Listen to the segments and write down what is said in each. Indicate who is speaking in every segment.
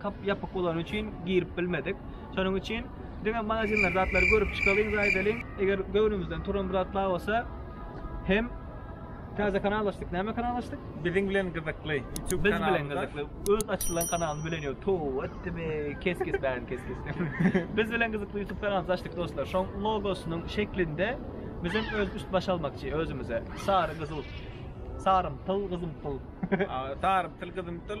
Speaker 1: Kap ýapyk bolany üçin girip bilmedik. Şonuň üçin diňe magazinler zatlary görüp çykalyň we aýdalyň. Eger göwnümizden turan bir zat bar bolsa hem Täze kanal açdyk. Näme kanal açdyk? Biziň bilen gyzykly.
Speaker 2: Biz bilen
Speaker 1: gyzykly. Öz açylan kanalyny bilen ýok. Tow etdimi? Kes kes bäri kes kes. Biz bilen gyzykly YouTube kanalyny açdyk dostlar. Şoň logosynyň şeklinde biz hem öz üst baş almakçy özümize. Sary gyzyl. Sarymtyl gyzymtyl. Sarymtyl
Speaker 2: gyzymtyl.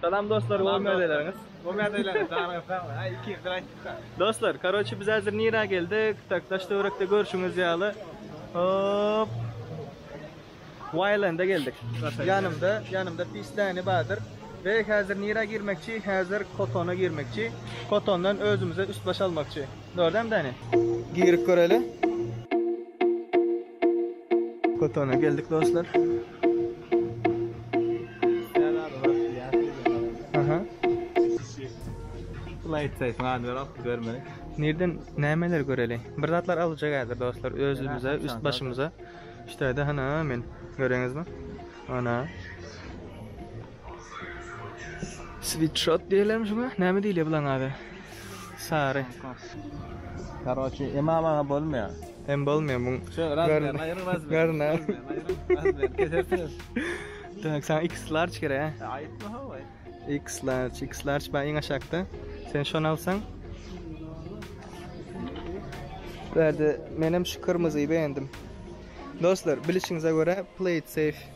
Speaker 1: Salam dostlar, Salam görmez dostlar. elerňiz. Görmez elerňiz,
Speaker 2: janyňyz sag bolsun. Ha, iki ýyldyr aýtdyk-da. Dostlar, karoçi
Speaker 1: biz häzir nirä geldik? Tak, daş töwerekde görşüňiz ýaly. Hop. Waýlanda geldik. Ýanymda, ýanymda pisläni bardyr. Ve häzir nirä girmekçi? Häzir Kotona girmekçi. Kotondan özümize üst baş almakçy. Dördem däni. Girip göreli. Kotona geldik dostlar.
Speaker 2: Nirden
Speaker 1: nämeler göreli? Bir zatlar alyjak häzir dostlar özümize, üst başymyza. Ştaýda hana men. Göreňizmi? Ana. Switshot diýilemi şuňa? Näme diýilýär bulaň ady? Sary.
Speaker 2: Karoçi, emam aga bolmaýar. Hem bolmaýar muň.
Speaker 1: Şo razmer, aýryň razmer. Görme. Razmer,
Speaker 2: kesersiňiz.
Speaker 1: Däň, saňa iks large gerek, hä? E, aýtma hawa.
Speaker 2: Iks large,
Speaker 1: iks large baý iň aşakda. Sen şony alsaň. Bärde menem şu kyrmyzy begendim. Dostlar, bilişiňize görä, play it safe.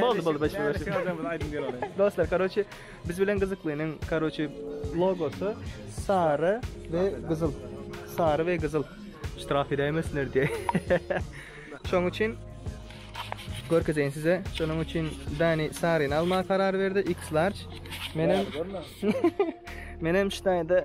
Speaker 2: Boldy, boldy,
Speaker 1: başla, başla. Sözlerimiz aýdyň diýen olar. Dostlar, karoçi, biz bilen gyzyklynyň karoçi logosy sary we gyzyl. Sary we gyzyl. Ştraf edäýmesinler diýe. Şoň üçin görkezeýin size. Şonuň üçin Dani saryny almaga karar berdi, X large. Menem Menem ştaýda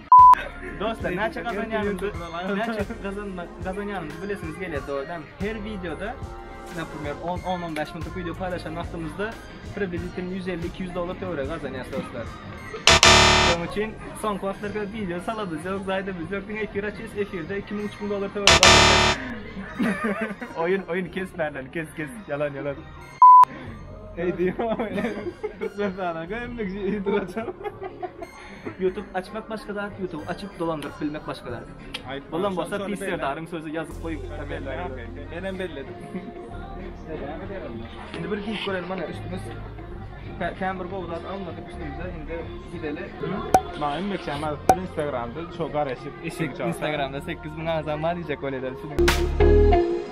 Speaker 1: Dostlar, näçe gazanýanymyzy, näçe gazanýanymyzy bilesiňiz gelýär dogrudanam. Her wideoda, näme, 10-15 minutlyk wideo paýlaşan wagtymyzda približitelno 150-200 dollar töweregi gazanýarys dostlar. Şonuň üçin soňky wagtlarda wideo salabymyz ýok, zaýadymyz ýok. Diňe efir açýarys, efirde 2000-3000 dollar töweregi gazanýarys. Oýun, oýun kes bärden, kes, kes. Ýalan, ýalan.
Speaker 2: Eý diýýän. Türkmenistana gömmek üçin ýygydyr açar.
Speaker 1: Ýutub açmak başga zat ýutub açyp dolandyryp bilmek başga zat. Bolan bolsa pis serdaryň sözi ýazyp goý kommentariýa. Menem
Speaker 2: belledim.
Speaker 1: Indi bir giýip görelim mana üstümiz kän bir gowy zat almadyk üstümize indi gideli. Maňa inmek
Speaker 2: üçin ýazypdyr instagramda şo garaşyp eşek üçin. Instagramda 8000
Speaker 1: agzam bar diýjek bolýarlar.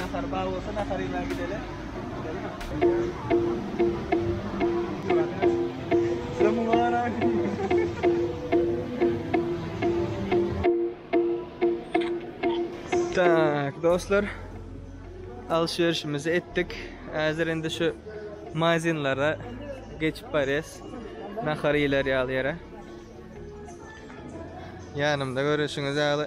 Speaker 1: Nahar bar bolsa nahar ýemä gideli. Tak, dostlar. Alşerişimizi etdik. Hazir indi şu mazinlara geçip barýas. Nahar ýeler ýaly ýere. Ýanymda görüşiňiz ýaly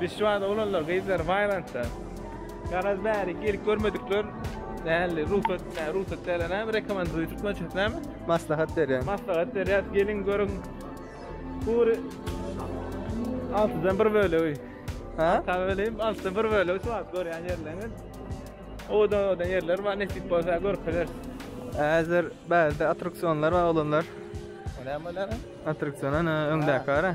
Speaker 2: Biz şu wagt oglanlar gyzlar baýlantda. Garaz bäri gelip görmedikler nähili rugsat näme rugsat däl näme rekomenduýa türkmençesi näme? Maslahat berýär.
Speaker 1: Maslahat berýär geliň
Speaker 2: görüň. Gury altydan bir bölegi. Ha? Tabi
Speaker 1: öyleyim altydan bir
Speaker 2: bölegi şu wagt görýän ýerleriňiz. Owadan owadan ýerler bar nesip bolsa görkezeris. Häzir
Speaker 1: bärde attraksionlar bar oglanlar. Näme olar?
Speaker 2: Attraksiona
Speaker 1: öňdäki bara.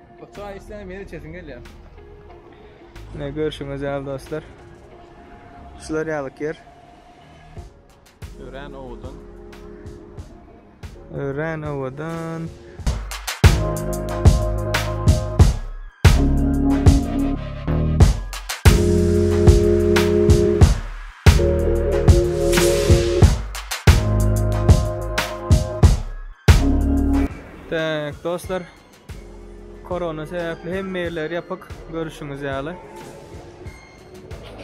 Speaker 1: Bu
Speaker 2: çay içsene meni içesim gelýär.
Speaker 1: Ne görüşüňiz ýaly dostlar. Şular ýaly ýer. Örän
Speaker 2: owadan.
Speaker 1: Örän owadan. Tak, dostlar, Korona sebäpli hemme ýerler ýapyk, görüşiňiz ýaly.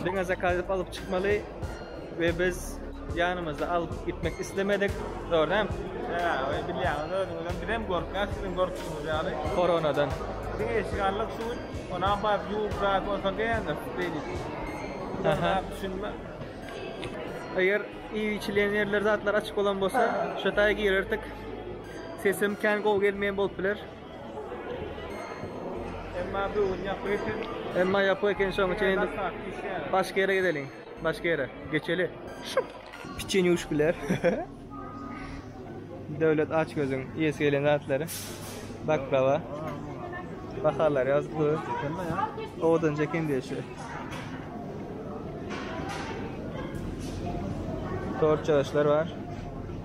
Speaker 1: Diňe zakaz edip alyp çykmaly we biz ýanymyzda alyp gitmek islemedik. Dogry dämi? Ýa, we bilýäňiz
Speaker 2: özüňizem, bizem gorkýas siziň gorkuşyňyz ýaly. Koronadan.
Speaker 1: Diňe eşik
Speaker 2: alnyk şu gün, onam baryp ýuwup rahat bolsaň diýýändir beýdip.
Speaker 1: Aha. Düşünme. Eger iýip-içilýän ýerler, zatlar açyk bolan bolsa, şo taýy girerdik. Sesim kän gowy gelmeýän bolup biler. Emma bu gün ýapyk eken. Emma ýapyk eken şoň üçin indi başga ýere gideliň. Başga ýere geçeli. Şup. Piçeni uçup biler. Döwlet aç gözüň iýesi gelen zatlary. Baklava. Bahalar ýazykly. Owadan çeken diýşi. Tort çaşlar bar.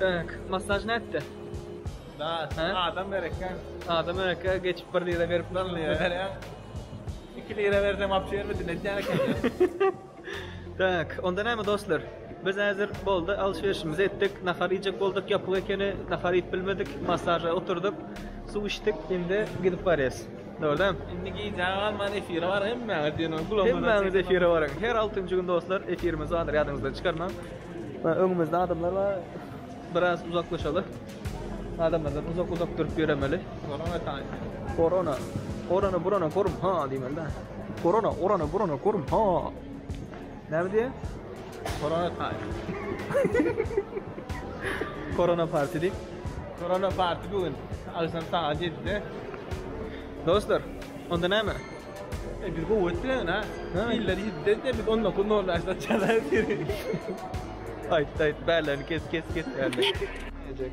Speaker 1: Bek, massaj nätdi? Da,
Speaker 2: adam berekkä. Adam berekkä
Speaker 1: geçip bir lira berip bir lira berýär.
Speaker 2: Iki lira berse wapşe bermedin edýän eken.
Speaker 1: Bek, onda näme dostlar? Biz häzir boldy, alşyryşymyzy etdik, nahar iýjek bolduk, ýapyk ekeni, nahar iýip bilmedik, massaža oturdyk, suw içdik, indi gidip barýas. Dogrudan hem. Indi gijä galman
Speaker 2: efire bar hemmäňiz diýen ol gulagyma. Hemmäňiz efire
Speaker 1: baryň. Her altynjy gün dostlar efirimiz bardyr ýadyňyzdan çykarmaň. Öňümizde adamlar bar. Biraz uzaklaşaly. Adamlardan uzak uzak durup ýöremeli. Korona taýyn. Korona. Korona burana korum ha diýmeli.
Speaker 2: Korona
Speaker 1: orana burana korum ha. Näme diýýär?
Speaker 2: Korona
Speaker 1: party. Korona party diýip. Korona
Speaker 2: party bu gün. Agşam sagat 7-de.
Speaker 1: Dostlar, onda näme? E bir
Speaker 2: gowy etdiler ha. Iller 7-de de biz 19.00-da açda çalar biri.
Speaker 1: Aýt, aýt, bälerini kes, kes, kes bälerini. Näjek.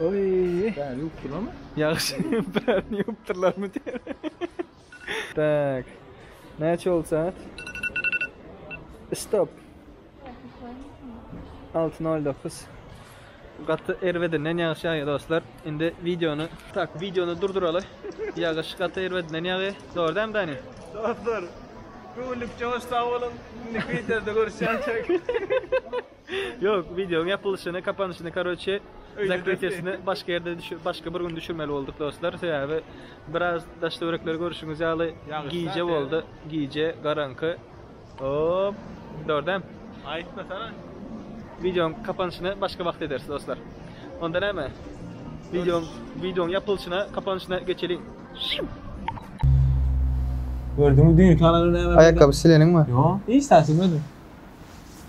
Speaker 1: Oý. Bäri ýupdurlarmy?
Speaker 2: Ýagşy bärini
Speaker 1: ýupdurlarmy diýýär. Tak. Näçe boldy sagat? Stop. Alty nol dokuz. Gaty erbedinden ýagyş ýagýar dostlar. Indi wideony tak wideony durduraly. Ýagyş gaty erbedinden ýagýar. Dogry dämi Dani? Dostlar,
Speaker 2: göwünlik joşsa boluň. Indi Twitter'de görüşýänçäk.
Speaker 1: Ýok, wideoň ýapylyşyny, kapanyşyny, karoçe, zakrytýasyny başga ýerde düşür, başga bir gün düşürmeli bolduk dostlar. Sebäbi biraz daş-töwerekleri görüşiňiz ýaly gije boldy. Gije, garaňky. Hop, dordem. Aýtmasana.
Speaker 2: Wideoň
Speaker 1: kapanyşyny başga wagt ederis dostlar. Onda näme? Wideoň, wideoň ýapylyşyna, kapanyşyna geçeliň. Gördüňmi
Speaker 2: düýnki alany näme? Aýakgaby sileniňmi?
Speaker 1: Ýok, hiç zat silmedim.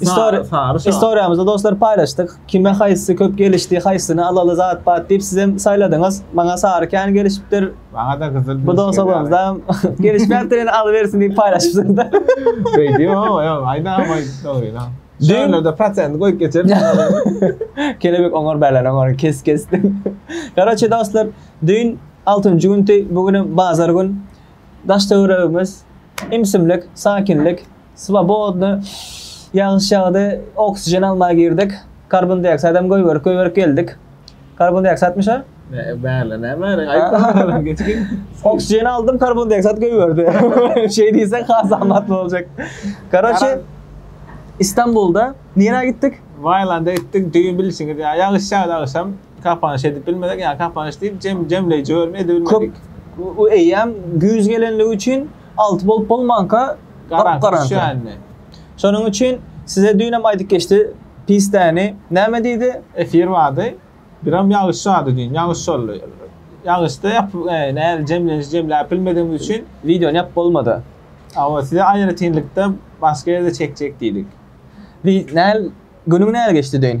Speaker 1: Istori- Sary şa. Istoriýamyzy dostlar paýlaşdyk. Kime haýsy köp gelişdi, haýsyny alaly zat bat diýip sizem saýladyňyz. Maňa sary kän gelişipdir. Maňa-da gyzyl Bu
Speaker 2: dostalygymyzdam
Speaker 1: gelişmäpdir ýöne alybersin diýip paýlaşypsyň-da. Beýdibem ama
Speaker 2: ýok, aýdam aýt dogryny. Düýn- Şonlarda prosent goýup geçeris.
Speaker 1: Kelebek oňar bälen oňar kes kes. Garoçe dostlar düýn altynjy gündi bu günem bazar gün. Daş töweregimiz imsimlik, sakinlik. Swobodny, Ýagyş ýagdy, oksijen almaga girdik. Karbondioksidam goýberip, goýberip geldik. Karbondioksidmyş-a? Bärle, näme
Speaker 2: bäriň, aýtma, geçgin. Oksijen aldym,
Speaker 1: karbondioksid goýberdi. Şeý diýseň has amatly boljak. Karoçe, Istanbulda nirä gitdik? Waýlanda gitdik,
Speaker 2: düýn bilşiňiz ýaly, ýagyş ýagdy, agşam kapanyş edip bilmedik, ýa kapanyş diýip, jem, jemleýji bölümi edip bilmedik. Köp, eýýäm
Speaker 1: güýz gelenligi üçin Alty bolup bolmanka gyp-gyranka. Düşänmi?
Speaker 2: Şonuň üçin
Speaker 1: size düýnem aýdyp geçdi, pis däni näme diýdi? Efir bardy.
Speaker 2: Biram ýagyş ýady düýn. Ýagyş boldy. Ýagyşda ýapyp, nädip jemlenişi jemläp bilmedigimiz üçin. Wideony ýapyp bolmady.
Speaker 1: Hawa, size
Speaker 2: aýratynlykda başga ýerde çekjek diýdik. Günüň
Speaker 1: näl geçdi düýn?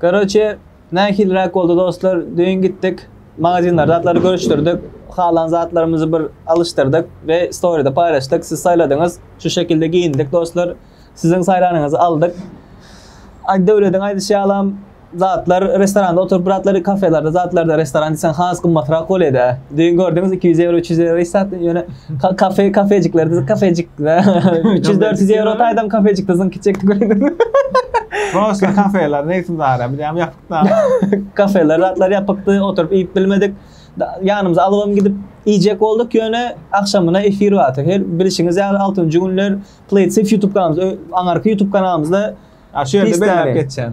Speaker 2: Garoçe,
Speaker 1: nähiliräk boldy dostlar, düýn gitdik, magazinlerde zatlary görüşdirdik, halan zatlarymyzy bir alyşdyrdyk we storyda paýlaşdyk, siz saýladyňyz, şu şekilde geýindik dostlar, siziň saýlanyňyzy aldyk. Aýdöwlediň aýdyşy ýalam, zatlar restoranda oturyp bir zatlary kafelerde zatlarda restoran diýseň has gymmatrak bolýada. Düýn gördüňiz iki ýüz ýewro, üç ýüz ýewro hiç zat ýöne Ka- Kafe, kafejikler, biz kafejik. 300-400 euro taýdan kafejikde zyn kiçek göründü. Prosta
Speaker 2: kafeler neyse zara. Bir de
Speaker 1: yapık
Speaker 2: da.
Speaker 1: Kafeler,
Speaker 2: zatlar
Speaker 1: ýapykdy, oturyp
Speaker 2: iýip
Speaker 1: bilmedik.
Speaker 2: Da-
Speaker 3: Ýanymyza alybam gidip iýjek bolduk, ýöne agşamyna efir bardy. Her bilişiňiz ýaly altynjy günler Playsafe YouTube kanalymyzda, ö- aňyrky YouTube kanalymyzda Ha şu yerde Pis belläp
Speaker 2: tane. geçen.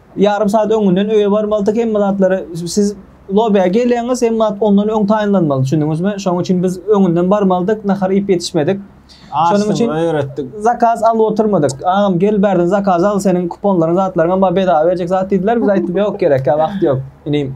Speaker 3: Ýarym sagat öňünden öýe barmalydyk, hemme zatlary siz lobbyä geleňiz, hemme zat ondan öň taýynlanmaly, düşündiňizmi? Şonuň üçin biz öňünden barmalydyk, nahar iýip ýetişmedik. Şonuň üçin zakaz alyp oturmadyk. Agam gel bärden zakaz al, seniň kuponlaryň, zatlaryňam bar, bedava berjek zat diýdiler. Biz aýtdym, ýok, gerekkä, wagt ýok, inim.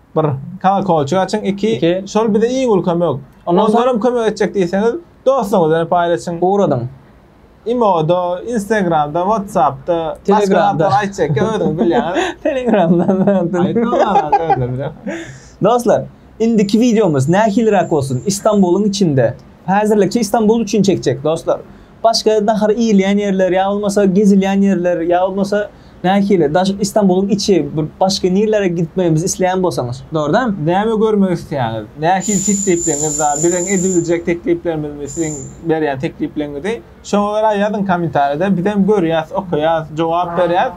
Speaker 2: Bir kolkolçyk açyň, iki, Iki. şol bize iň uly kömek. Ondan soň- Ondanam kömek etjek diýseňiz, dostuňyzdan paýlaşyň. Ugradyň.
Speaker 3: Imo-da,
Speaker 2: Instagram-da, WhatsApp-da, başga Telegram-da. zatlar
Speaker 3: aýtjakka özüňiz
Speaker 2: bilýäňiz. Telegramdan. Aýtmaňlar,
Speaker 3: özleri biler. Dostlar, indiki wideomyz nähiliräk bolsun? Istanbulyň içinde. Häzirlikçe Istanbul üçin çekjek, dostlar. Başga nahar iýilýän ýerler ýa bolmasa gezilýän ýerler ýa bolmasa nähili daş Istanbulyň içi bir başga nirlere gitmegimizi isleýän bolsaňyz dogry dämi? Näme görmek isleýäňiz?
Speaker 2: Nähili teklipleňiz bar? Biziň edibiljek tekliplerimizmi siziň berýän teklipleňizi şoňa görä ýazyň komentarýada bizem görýäs okaýas jogap berýäs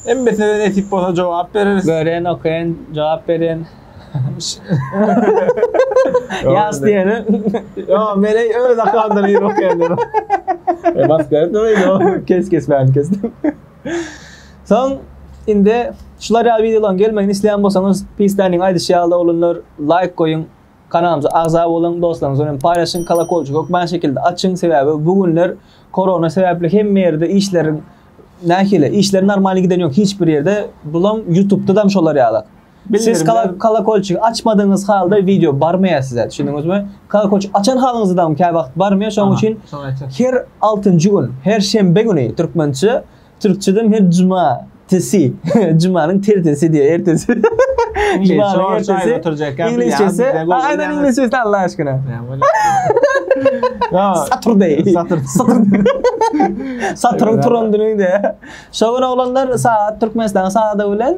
Speaker 2: emmesine de nesip bolsa jogap bereris. Görýän okaýan
Speaker 3: jogap berýän. Ýas diýene. Ýa meni
Speaker 2: öz akamdan ýygy okýandyr. E bas gel diýme. Kes kes bäni kes.
Speaker 3: Soň indi şular ýaly wideolaryň gelmegini isleýän bolsaňyz, Pistanyň aýdyşy ýaly oglanlar laýk goýuň, kanalymyza agza boluň, dostlaryňyz bilen paýlaşyň, kolokolçyk hökman şekilde açyň, sebäbi bu günler korona sebäpli hemme ýerde işleriň nähili, işler normalny giden ýok hiç bir ýerde, bulam ýutubda dam şolar ýalak. Siz kolokolçigi açmadyňyz halda wideo barmaýar size, düşündiňizmi? Kolokolçigi açan halyňyzdam käwagt barmaýar, şonuň üçin her altynjy gün, her şenbe güni türkmençe, türkçeden her juma tesi, jumanyň tertesi diýýär, ertesi. Jumanyň ertesi oturjak ýa. Iňlisçesi, aýdan iňlisçesi Allah aşkyna. Saturday. Saturday. Saturn turan günüňde. Şo gün oglanlar sagat Türkmenistanyň sagady bilen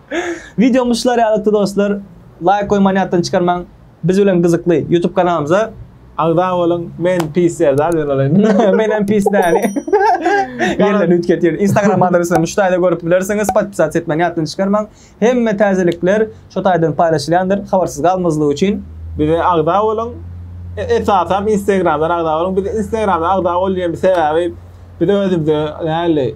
Speaker 3: Wideomyz şular ýalykdy dostlar. Laýk goýmany ýatdan çykarmaň. Biz bilen gyzykly YouTube kanalymyza agza boluň.
Speaker 2: Men pis Serdar bilen bolaýyn. Menem pis Näli.
Speaker 3: Ýerlerini üýtgetýär. Instagram adresimi şu taýda görüp bilersiňiz. Podpisat etmeni ýatdan çykarmaň. Hemme täzelikler şu taýdan paýlaşylýandyr. Habarsyz galmazlyk üçin. Bize agza
Speaker 2: boluň. Esasan Instagramdan agza boluň. Biz Instagramdan agza bol diýen sebäbi biz özümize näli